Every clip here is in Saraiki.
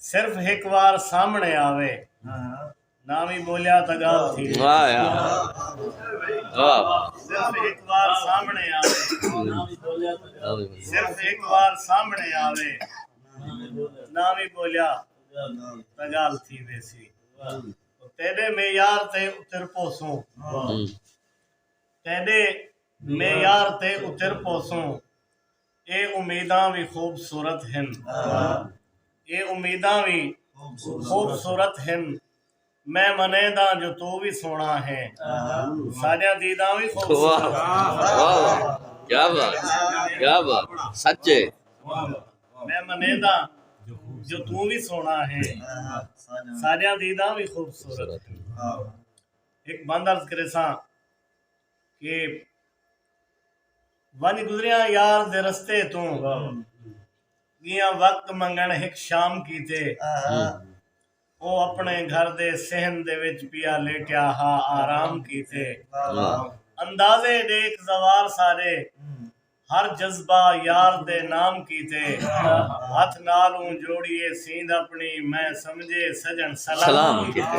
صرف ہک وار سامنڑے آوے نہ وی بولیا تاں گالھ تھی ویسی او تیڈے معیار تے اتر پوسوں تیڈے معیار تے اتر پوسوں اے امیداں وی خوبصورت ہن اے امیداں وی خوبصورت ہن میں منیداں جو توں وی سوہݨا ہیں ساݙیاں دیداں وی خوبصورت میں منیداں جو توں وی سوہݨا ہیں ساݙیاں دیداں وی خوبصورت ہن ہک بند عرض کریساں کہ ونڄ گزریاں یار دے رستے توں ڳیاں وقت منگݨ ہک شام کیتے او اپݨے گھر دے صحن دے وچ پیا لیٹیا ہا آرام کیتے اندازے ݙیکھ زوار سارے ہر جذبہ یار دے نام کیتے ہتھ نال اوں جوڑیے سیند اپݨی میں سمجھے سڄݨ سلام کیتے۔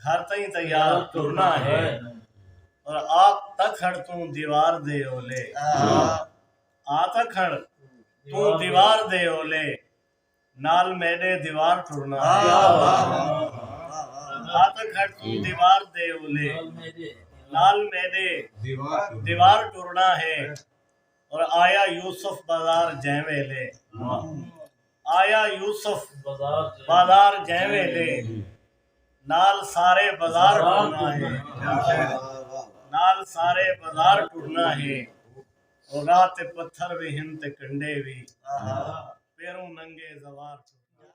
گھر تئیں تیار ٹرنا ہے اور آ تا کھڑ توں دیوار دے اولے آ تا کھڑ توں دیوار دے اولے نال میݙے دیوار ٹرنا ہے آ تا کھڑ توں دیوار دے اولے نال میݙے دیوار ٹرنا ہے اور آیا یوسف بازار جیں ویلے آیا یوسف بازار جئیں ویلے نال سارے بازار ٹرنا ہے نال سارے بازار ٹرنا ہے او راہ تے پتھر وی ہن تے کنڈے وی پیروں ننگے زوار ٹرنا ہے۔